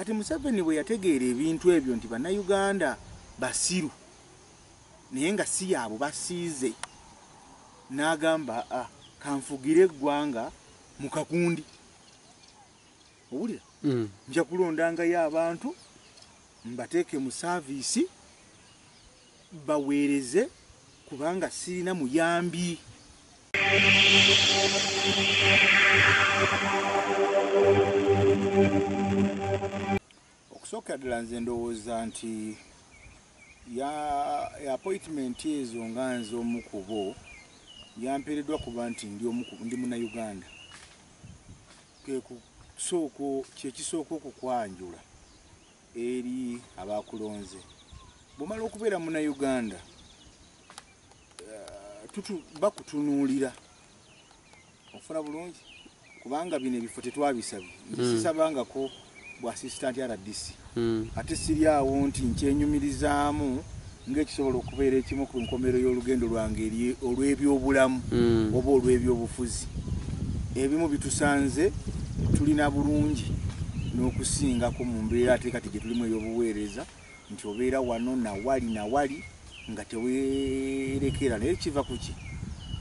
Kati Museveni bwe yategeera ebintu ebyo nti Bannayuganda basiru naye nga si yaabo basiize n'agamba ah, kanfugire eggwanga mu kakundi owulira mm. nja kulondangayo abantu mbateeke mu saaviisi baweereze kubanga ssirina muyambi. Okusookera ddala nze ndowooza nti ya appointment ezo nga nze omu ku bo yampeereddwa kuba nti ndi omu ndi munnayuganda kwe kusooka kye kisooka okukwanjula. Eri abaakulonze. Bw'omala okubeera Munnayuganda bakutunuulira ofuna bulungi kubanga bino ebifo tetwabisabye hmm. sisabangako bwa assistant rdc hmm. ate siri awo nti nkyenyumirizaamu ng'ekisobola okubeera ekimu ku nkomerero y'olugendo lwange eri olw'ebyobulamu mm. oba olw'ebyobufuzi ebimu bitusanze tulina bulungi n'okusingako mu mbeera ate kati gye tulimu ey'obuweereza nti obeera wano nawali nawali nga teweerekera naye kiva ku ki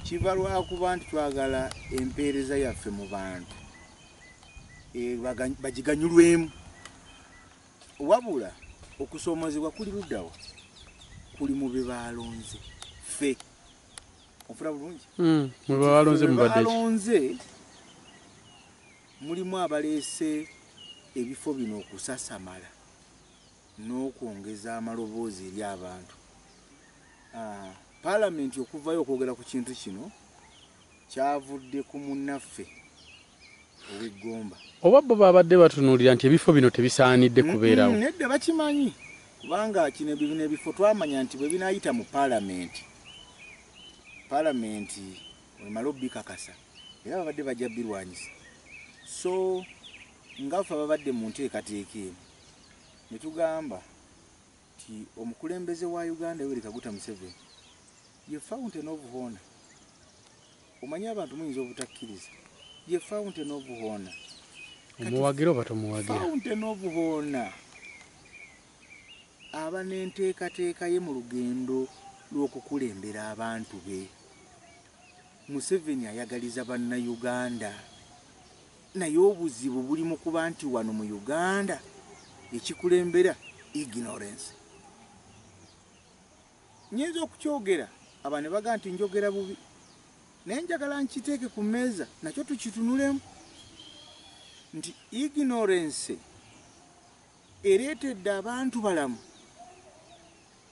kiva lwakuba nti twagala empeereza yaffe mu bantu eh, bagiganyulwemu Wabula okusomozebwa kuli ludawa kuli mube balonze fe ofura bulungi mm, mube balonze mubadealonze mulimu abaleese ebifo bino okusasamala n'okwongeza amaloboozi eri abantu ah, palamenti okuvayo okwogera ku kintu kino kyavudde ku munnaffe ow'e Gomba. Oba bo baabadde batunuulira nti ebifo bino tebisaanidde kubeerawo? Nedda, bakimanyi kubanga kino bino ebifo twamanya nti bwe binaayita mu Palamenti, Palamenti emale obikakasa era babadde bajja birwanyisa. So nga ffe ababadde mu nteekateeka eno ne tugamba. nti omukulembeze wa Uganda Yoweri Kaguta Museveni ye fountain of honour omanyi abantu muyinza obutakkiriza ye fountain of honour omuwagira oba tomuwagira fountain of honour aba n'enteekateeka ye mu lugendo lw'okukulembera abantu be Museveni ayagaliza bannayuganda. Naye obuzibu buli mukuba nti wano mu Uganda ekikulembera ignorance. Nyinza okukyogera aba nebaga nti njogera bubi naye njagala nkiteeke ku meeza nakyo tukitunulemu nti ignorance ereetedde abantu balamu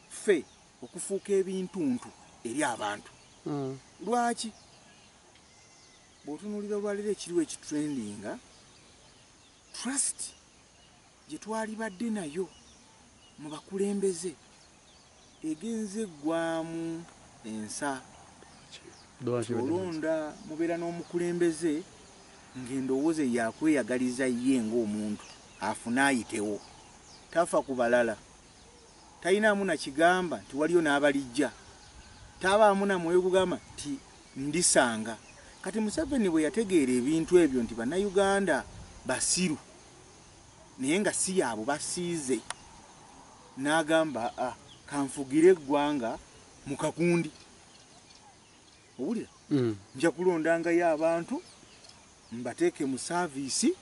ffe okufuuka ebintuntu eri abantu. Hmm. Lwaki? Bwotunulira olwalero ekiriwo ekitrendinga, trust gyetwalibadde nayo mu bakulembeze egenze gwamu ensa. Kati olonda mubeera n'omukulembeze ng'endowooza ye yakweyagaliza ye ng'omuntu afune ayitewo. Tafa ku balala. talinaamu na kigamba nti waliyo n'abalijja, tabaamu na mwoyo gugamba nti ndisanga. Kati Museveni bwe yategeera ebintu ebyo nti Bannayuganda basiru naye nga si yaabo basiize, n'agamba ah, kanfugire eggwanga mu kakundi. Owulira? Nja kulondangayo abantu mbateeke mu saaviisi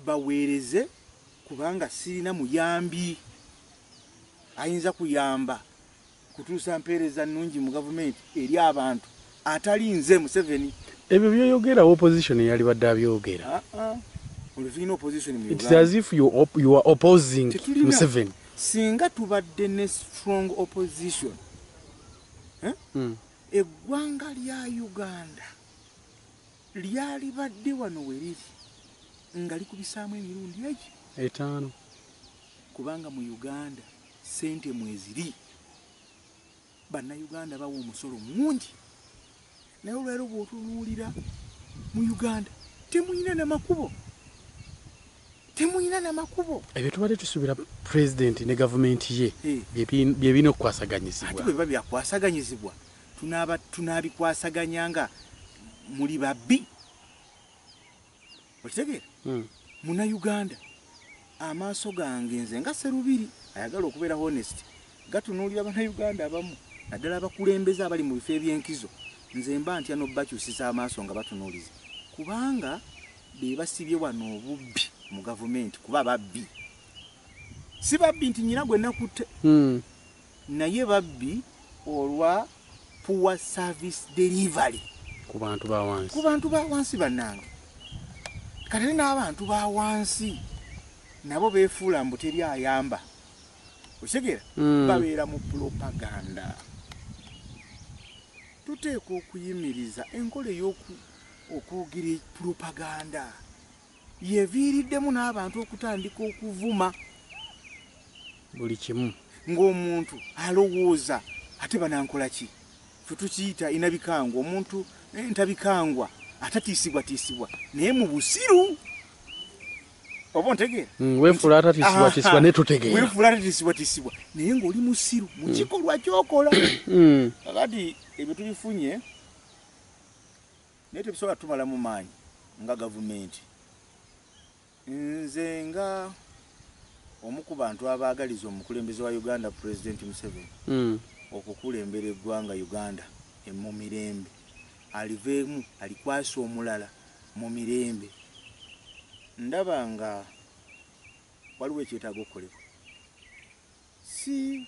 baweereze kubanga sirina muyambi ayinza kuyamba kutuusa mpeereza nnungi mu gavumenti eri abantu atali nze Museveni. Ebyo byoyogera opposition yalibadde abyogera. It's as if you, op you are opposing Museveni. Singa tubadde ne strong opposition eggwanga lya Uganda lyalibadde wano we liri nga likubisaamu emirundi egi etaano kubanga mu Uganda ssente mweziri, Bannayuganda bawa omusolo mungi. Naye olwaleero bwotunuulira mu Uganda temuyina na makubo temuyina na makubo ebyo tubadde tusuubira pulezidenti ne gavumenti ye byebina okukwasaganyizibwa ate bweba byakwasaganyizibwa tunabikwasaganya nga muli babbi okitegeera muna uganda amaaso gange nze nga serubiri ayagala okubeera honest gatunuulira bana uganda abamu naddala abakulembeze abali mu bifo ebyenkizo nze mba ntya nobakyusiza amaaso nga batunuuliza kubanga bebasibye wano obubbi mu gavumenti kuba babbi si babbi nti nyina gwe nakutte hmm. Naye babbi olwa poor service delivery ku bantu ba wansi. Ku bantu ba wansi banange. Kati n'abantu ba wansi nabo befuula mbu teri ayamba. Okitegera? Mm. Babeera mu propaganda. Tuteekwa okuyimiriza enkola ey'oku okwogera propaganda. Yeviiriddemu n'abantu okutandika okuvuma buli kimu ng'omuntu alowooza ate banankola ki fe tukiyita inabikangwa omuntu eh, ntabikangwa atatiisibwatiisibwa naye mu busiru oba ontegeera mm, wefuula atatiisibwatiisibwa naye tutegeera wefuula atatiisibwatiisibwa naye ng'oli musiru mu mm. kikolwa kyokola mm. kakati ebyo tubifunye Naye tebisobola kutumalamu maanyi nga gavumenti. Nze nga omu ku bantu abaagaliza omukulembeze wa Uganda Pulezidenti Museveni okukulembera eggwanga Uganda mu mirembe, aliveemu alikwase omulala mu mirembe, ndaba nga waliwo ekyetaaga okukolebwa. Si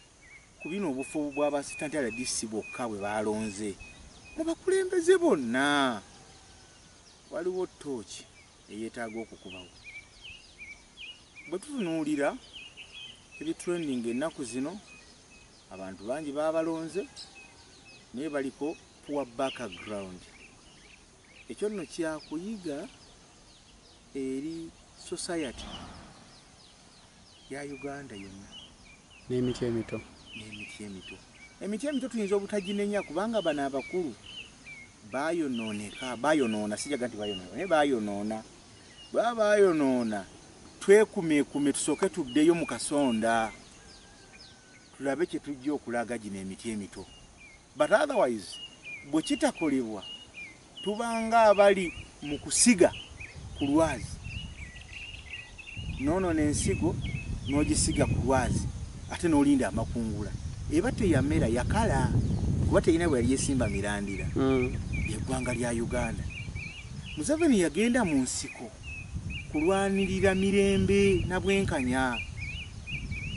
ku bino obufo bwa ba Sitantale rdc bwokka bwe baalonze, mu bakulembeze bonna waliwo ttooci eyeetaaga okukubawo. Bwe tutunuulira ebitrendinga ennaku zino, abantu bangi baabalonze naye baliko poor background. Ekyo nno kyakuyiga eri society ya Uganda yonna. N'emiti emito. N'emiti emito. Emiti emito tuyinza obutaginenya kubanga bano abakulu bayonooneka, bayonoona, sijaga nti bayonoona, naye bayonoona. Bwaba bayonoona twekumeekume tusooke tuddeyo mu kasonda tulabe kye tujja okulaga gino emiti emito. But otherwise bwekitakolebwa tuba nga abali mu kusiga ku lwazi. Noonona ensigo n'ogisiga ku lwazi ate n'olinda amakungula. Eba teyamera, yakala kuba terina bwe yali esimba mirandira. Lye ggwanga lya Uganda. Museveni yagenda mu nsiko. kulwanirira mirembe na bwenkanya.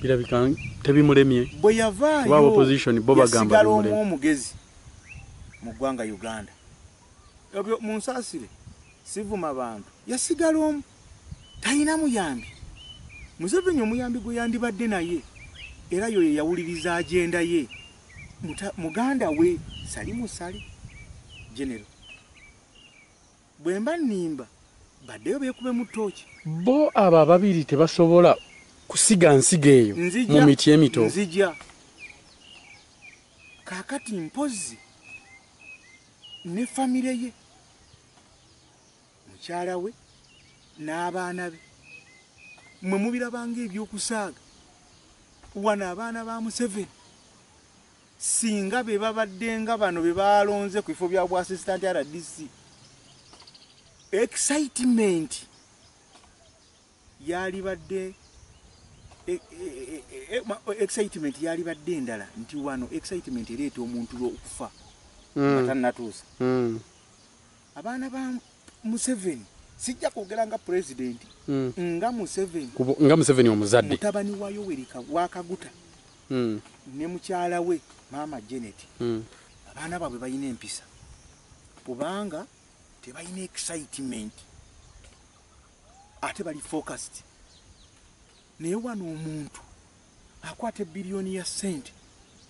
Birabika tebimulemye bwe yavaayo yasigala omu omugezi mu ggwanga Uganda. Ebyo munsaasire sivuma bantu. Yasigala omu talina muyambi. Museveni omuyambi gwe yandibadde naye era yoyo yawuliriza agenda ye muganda we sali musale genero. Bwemba nimba badeyo bekubemu tooki. Bo abo ababiri tebasobola kusiga nsigo eyo mu miti emito? Nzija, nzija. Kaakati mpozzi ne famire ye, mukyala we n'abaana be, mmwe mubiraba ng'eby'okusaaga? Wano abaana ba Museveni. Ssinga be babadde nga bano be baalonze ku bifo bya bwa Assistant RDC, excitement yaalibadde e, e, e, excitement yaalibadde endala nti wano excitement ereeta omuntu okufa mm. nga tannatuusa mm. Abaana ba Museveni sijja kwogera nga president mm. nga Museveni Kubo, nga Museveni omuzadde mutabani wa Yoweri wakaguta mm. ne mukyala we maama Janet mm. abaana baabwe balina empisa kubanga tebalina excitement ate bali focused naye wano omuntu Akwata ebbilioni ya ssente.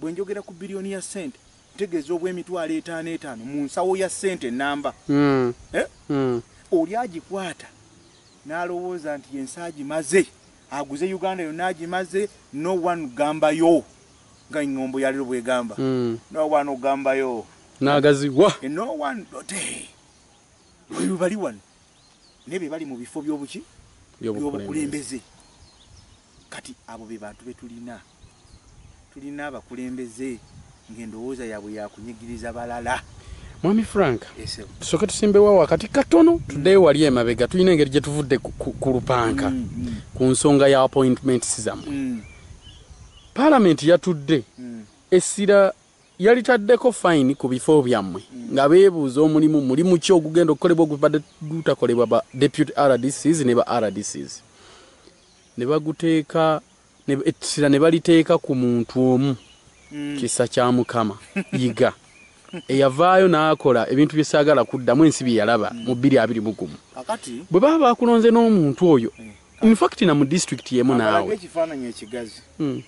Bwe njogera ku bbilioni ya ssente, ntegeeza obw'emitwalo etaano etaano mu nsawo ya ssente nnamba. Oli agikwata n'alowooza nti ensi agimaze, aguze Uganda yonna agimaze, no one Gambayo, nga eŋŋombo ya leero bw'egamba, no one Gambayo. N'agaziwa. No one Dote. Bwe bali wano, naye be bali mu bifo by'obuki? By'obukulembeze. Kati abo be bantu betulina. Tulina abakulembeze nga endowooza yabwe yakunyigiriza balala. Mwami Frank, tusoke tusimbewo wakati katono tuddeyo wali emabega tulina engeri gye tuvudde ku lupanka mm, mm. ku nsonga ya appointments zammwe mm. palamenti yatudde essira yalitaddeko fayini ku bifo byammwe nga beebuuza omulimu mulimu ki ogugenda okukolebwa ogubadde gutakolebwa ba deputy rdcs ne ba rdcs ne baguteeka ne, ettira ne baliteeka ku muntu omu mm. kisa kya mukama yiga eyavaayo n'akola ebintu bye saagala kuddamu ensi bye yalaba mm. mu bbiri abiri mu gumu bwe baba baakulonze n'omuntu oyo mm. infact na mu disitulikiti y'emu naawe ekifaananyi ekigazi mm.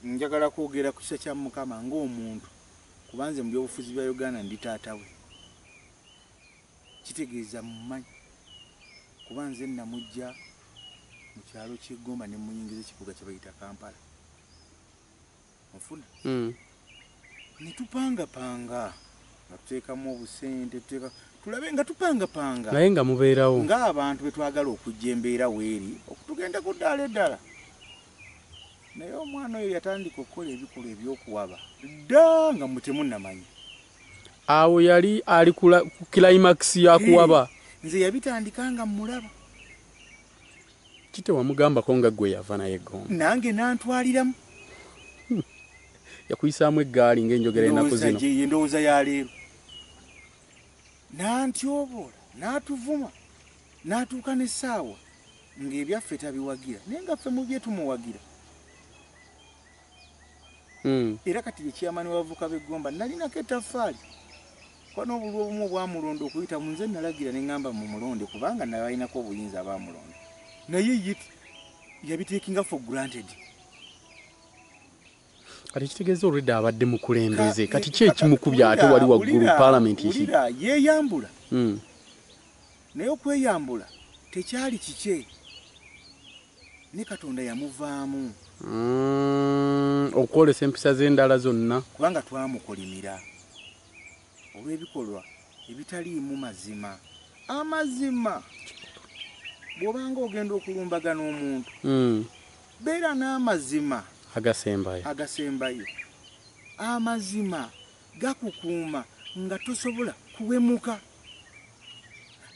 njagala kwogera ku kisa kya mukama ng'omuntu kubanze mu byobufuzi bya uganda ndi taata we Kitegeeza mmumanyi kuba nze namuggya mu kyalo ky'e Gomba ne mmuyingiza ekibuga kye bayita Kampala. Onfuna? Ne tupangapanga nga tuteekamu obusente tuteeka tulabe nga tupangapanga. Naye nga mubeerawo. Ng'abantu bwe twagala okujja embeera weeri okutugenda ku ddaala eddala. Naye omwana oyo yatandika okukola ebikolwa eby'okuwaba dda nga mmwe temunnamanya. Awo yali ali ku climax ya kuwaba. Nze yabitandika nga mulaba. Kite wamugamba ko nga gwe yava naye gomba. Nange nantwaliramu. Hmm. Yakuyisaamu eggaali ng'enjogera enaku zino. Endowooza ya leero. Nantyoboola, natuvuma, natuuka n'essaawa ng'ebyaffe tabiwagira naye nga ffe mu bye tumuwagira. hmm. era kati ye chairman w'abavuka b'e Gomba nalinako ettaffaali kuba n'obululu obumu obwamulonda okuyita mu nze nalagira ne ŋŋamba mu mulonde kubanga nabalinako obuyinza abaamulonda naye ye yabiteekinga for granted kati kitegeeza olwedda abadde mukulembeze kati ki ekimukubya ate wali waggulu palamenti yeeyambula hmm. naye okweyambula tekyali kikye ne Katonda yamuvaamu. Mm, okwolesa empisa ze endala zonna. Kubanga twamukolimira olw'ebikolwa ebitaliimu mazima. Amazima bw'obanga ogenda okulumbagana omuntu mm. beera n'amazima agasembayo agasembayo amazima gakukuuma nga tosobola kuwemuka.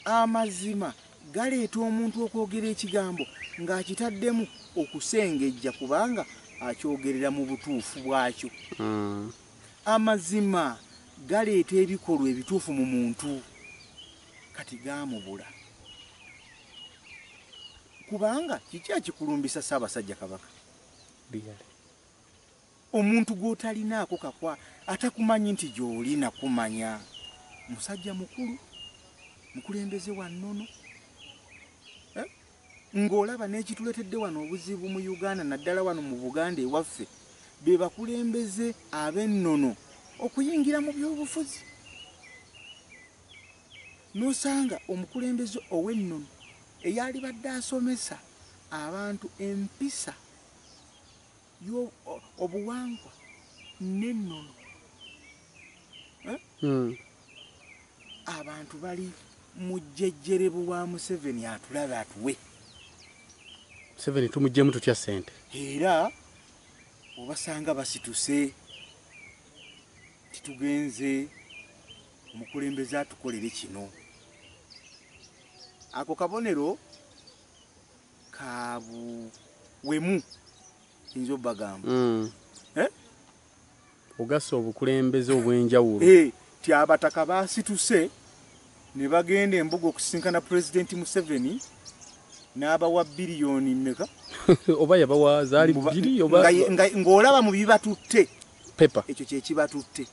Amazima galeeta omuntu okwogera ekigambo ng'akitaddemu okusengejja kubanga akyogerera mu butuufu bwakyo. Hmm. Amazima galeeta ebikolwa ebituufu mu muntu kati gaamubula. Kubanga kiki ekikulumbisa Ssaabasajja Kabaka? Omuntu gwotalinaako kakwa atakumanyi nti gyoli nakumanya musajja mukulu mukulembeze wa nnono eh? ng'olaba n'ekituletedde wano obuzibu mu Uganda naddala wano mu Buganda ewaffe be bakulembeze ab'ennono okuyingira mu byobufuzi n'osanga omukulembeze ow'ennono eyalibadde asomesa abantu empisa Yo obuwangwa nenono eh? abantu bali mujjejjerebu wa museveni atulabe atuwe museveni tumujjemu tutya sente era obasanga basituse titugenze mukulembeze atukolere kino ako kabonero kabuwemu nze obagamba mm. eh? ogasa obukulembeze obwenjawulo eh, ti abataka basituse ne bagenda embuga okusisinkana pulezidenti museveni n'abawa biliyoni meka oba yabawa zaali biri oba ng'olaba mu bibatutte pepa ekyo kyekibatutte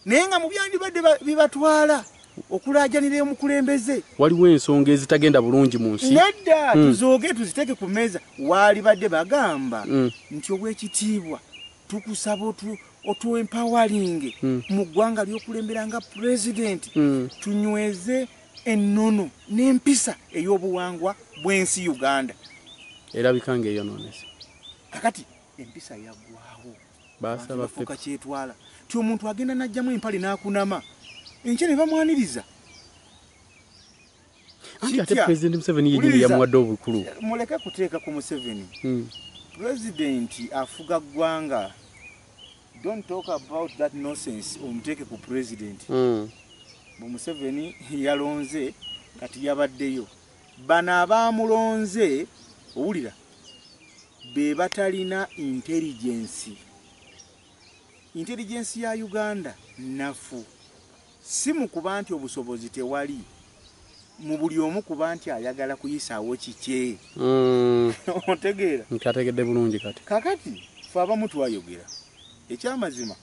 naye nga mu byandibadde bibatwala okulaajanira omukulembeze. Waliwo ensonga ezitagenda bulungi mu nsi. Nedda hmm. tuzooge tuziteeke ku mmeeza. Waalibadde bagamba hmm. nti obw'ekitiibwa tukusaba otuempawalinge hmm. mu ggwanga ly'okulembera nga pulezidenti tunyweze ennono n'empisa ey'obuwangwa bw'ensi Uganda. Erabika ng'eyonoonese. Kakati empisa yagwawo bafuuka kyetwala ti omuntu agenda najjamu empale nakunama enkya ne bamwaniriza muleke kuteeka ku museveni hmm. pulezidenti afuga ggwanga don't talk about that nonsense omuteeke ku pulezidenti hmm. bwe museveni yalonze kati yabaddeyo Bano abaamulonze, owulira, be batalina intelligence. Intelligence ya Uganda nnafu. Si mu kuba nti obusobozi tewali, mu buli omu kuba nti ayagala kuyisaawo kikye. Otegeera? Nkyategedde bulungi kati. Kaakati, ffe abamu twayogera. Ekyamazima,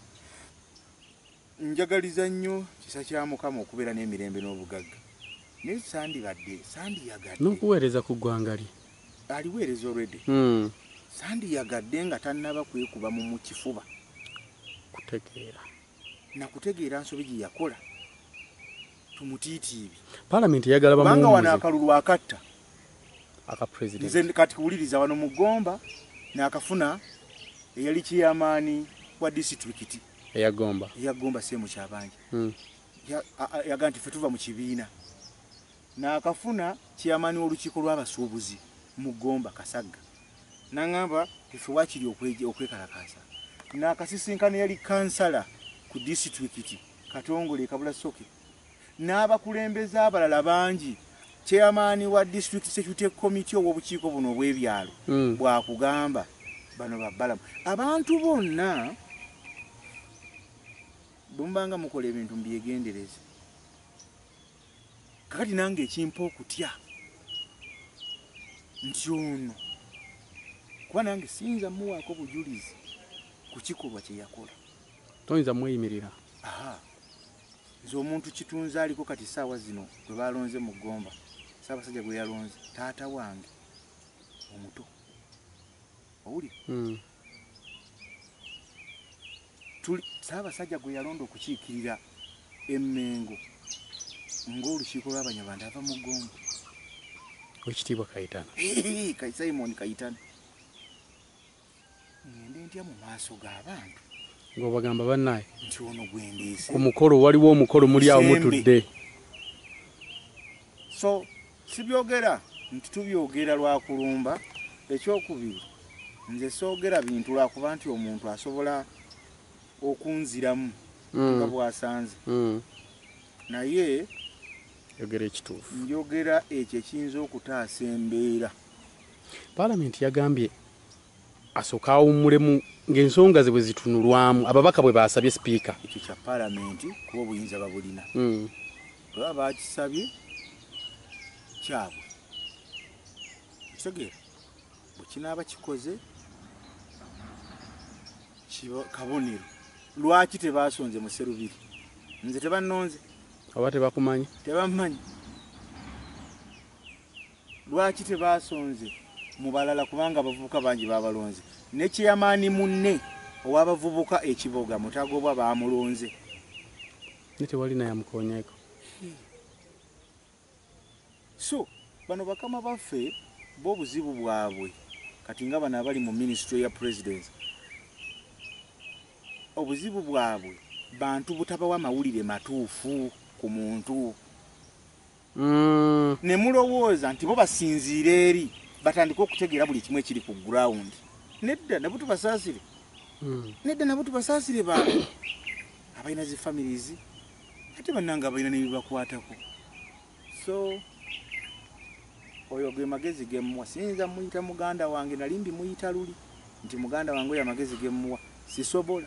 Njagaliza nnyo kisa kya Mukama okubeera n'emirembe n'obugagga, naye sandibadde, sandiyagadde. N'okuweereza ku ggwanga lye. Aliweereza already. Hmm. Sandiyagadde nga tannaba kwekuba mu mu kifuba. Kutegeera. Na kutegeera nsobi gye yakola. Tumutiitiibi. Palamenti eyagala bamuwumuze. Kubanga wano akalulu akatta. Aka president. Nze kati kuwuliriza wano mu Gomba n'akafuna eyali kiyamaani wa disitulikiti. eya gomba eya gomba semu kyabanja mm. yaga nti fetuva mu kibiina nakafuna chairman w'olukiiko lw'abasuubuzi mu gomba kasagga nangamba ife wakiri okwekalakaasa nakasisinkana yali kansala ku disitulikiti katongole kabula soke n'abakulembeze abalala bangi Chairman wa District Security Committee ow'obukiiko buno obw'ebyalo mm. bw'akugamba bano babbalamu abantu bonna bwe mubanga mukola ebintu mubyegendereze kakati nange ekimpa okutya nti ono kuba nange siyinza muwaako bujulizi ku kikolwa kye yakola toyinza mweyimirira Nze omuntu Kitunzi aliko kati ssaawa zino gwe baalonze mu Gomba, Ssaabasajja gwe yalonze, taata wange omuto. Owulira? Tuli, Ssaabasajja gwe yalonda okukiikirira e Mmengo ng'olukiiko lw'Abanyarwanda ava mu Gomba. Oweekitiibwa Kayitana. Hee, Simon Kayitana. ng'obagamba banaye ku mukolo waliwo omukolo muli awo mutudde so sibyogera nti tubyogera lwakulumba ekyokubiri nze soogera bintu lwakuba nti omuntu asobola okunziramu mm. nga bwasanze mm. naye njogera ekyo ekiyinza okutaasa embeera Palamenti yagambye asooke awummulemu ng'ensonga ze bwe zitunulwamu, ababaka bwe baasabye Sipiika. Ekyo kya Palamenti kuba obuyinza babulina. Bwe baba baakisabye kyabwe. Okitegeera? Bwe kinaaba kikoze kiba kabonero. Lwaki tebaasonze mu Sserubiri? Nze tebannonze. Oba tebakumanyi? Tebammanyi. Lwaki tebaasonze mu balala kubanga abavubuka bangi baabalonze ne ceyamaani munne ow'abavubuka e Kiboga Mutagobwa baamulonze. Naye tewali naye amukoonyeeko. So bano bakama baffe bo obuzibu bwabwe kati nga bano abali mu minisitule ya pulezidenti obuzibu bwabwe bantu butabawa mawulire matuufu ku muntu. ne mulowooza nti bo basinziira eri batandike okutegeera buli kimu ekiri ku ground nedda nabo tubasaasire nedda nabo tubasaasire baabwe abalina zi families ate bannanga abalina nebibakwatako so oyo ge magezi ge mmuwa siyinza muyita muganda wange nali mbimuyita luli nti muganda wange oyo amagezi ge mmuwa sisobola